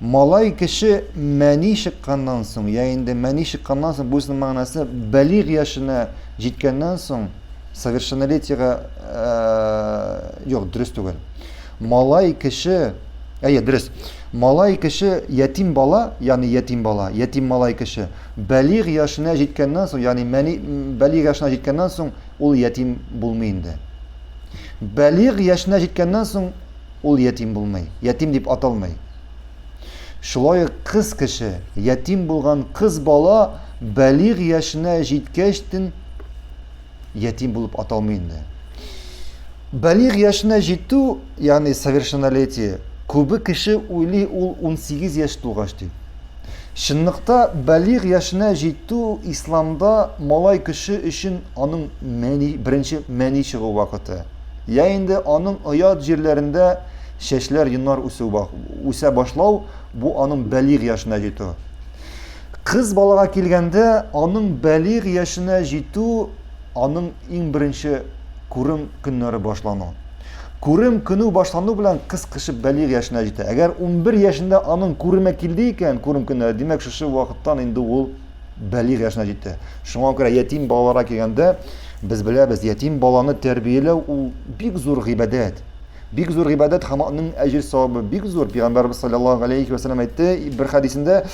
Малай кеше мәни чыкканнан соң, я инде мәни чыкканнан соң, буйсының мәгънәсе бәлигъ яшенә җиткәннән соң, совершеннолетиега э, юк, дөрес түгел. Малай кеше, әйе, дөрес. Малай кеше ятим бала, ягъни ятим бала, ятим малай кеше бәлигъ яшенә җиткәннән соң, ягъни мәни бәлигъ яшенә җиткәннән соң, ул ятим булмый инде. Бәлигъ яшенә җиткәннән соң ул ятим булмый, ятим дип аталмый. Шулай ук кыз кеше, ятим булган кыз бала бәлигъ яшенә җиткәчтен ятим булып аталмый инде. Бәлигъ яшенә җитү, ягъни совершеннолетие, күбе кеше уйлый ул 18 яшь тулгач дип. Чынлыкта бәлигъ яшенә җитү исламда малай кеше өчен аның мәни, беренче мәни чыгу вакыты. Йә инде аның оят җирләрендә чәчләр, йоннар үсү үсә башлау, бу аның бәлигъ яшенә җитү. Кыз балага килгәндә, аның бәлигъ яшенә җитү, аның иң беренче күрем көннәре башлану. Күрем көнү башлану белән кыз кышып бәлигъ яшенә җитә. Әгәр 11 яшендә аның күреме килде икән, күрем көннәре, димәк шушы вакыттан инде ул бәлигъ яшенә җитә. Шуңа күрә ятим балаларга килгәндә, без беләбез, ятим баланы тәрбияләү ул бик зур гыйбадәт. Бик зур гыйбадәт һәм аның әҗер савабы бик зур. Пәйгамбәрбез саллаллаһу алейхи ва саллям әйтте бер хәдисендә,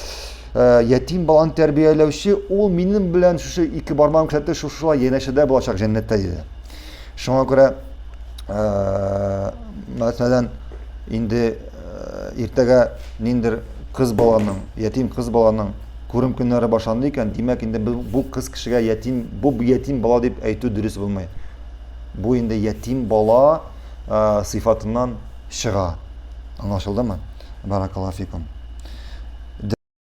«Э, ятим баланы тәрбияләүче ул минем белән шушы ике бармагым күрсәтте, шушылай янәшәдә булачак җәннәттә диде. Шуңа күрә э, мәсәлән, инде э, иртәгә ниндер кыз баланың, ятим кыз баланың Күрем көннәре башланды икән, димәк, инде без бу кыз кешегә ятим, бу ятим бала дип әйтү дөрес булмый. Бу инде ятим бала ә, сыйфатыннан чыга. Аңлашылдымы? Баракаллаһу фикум.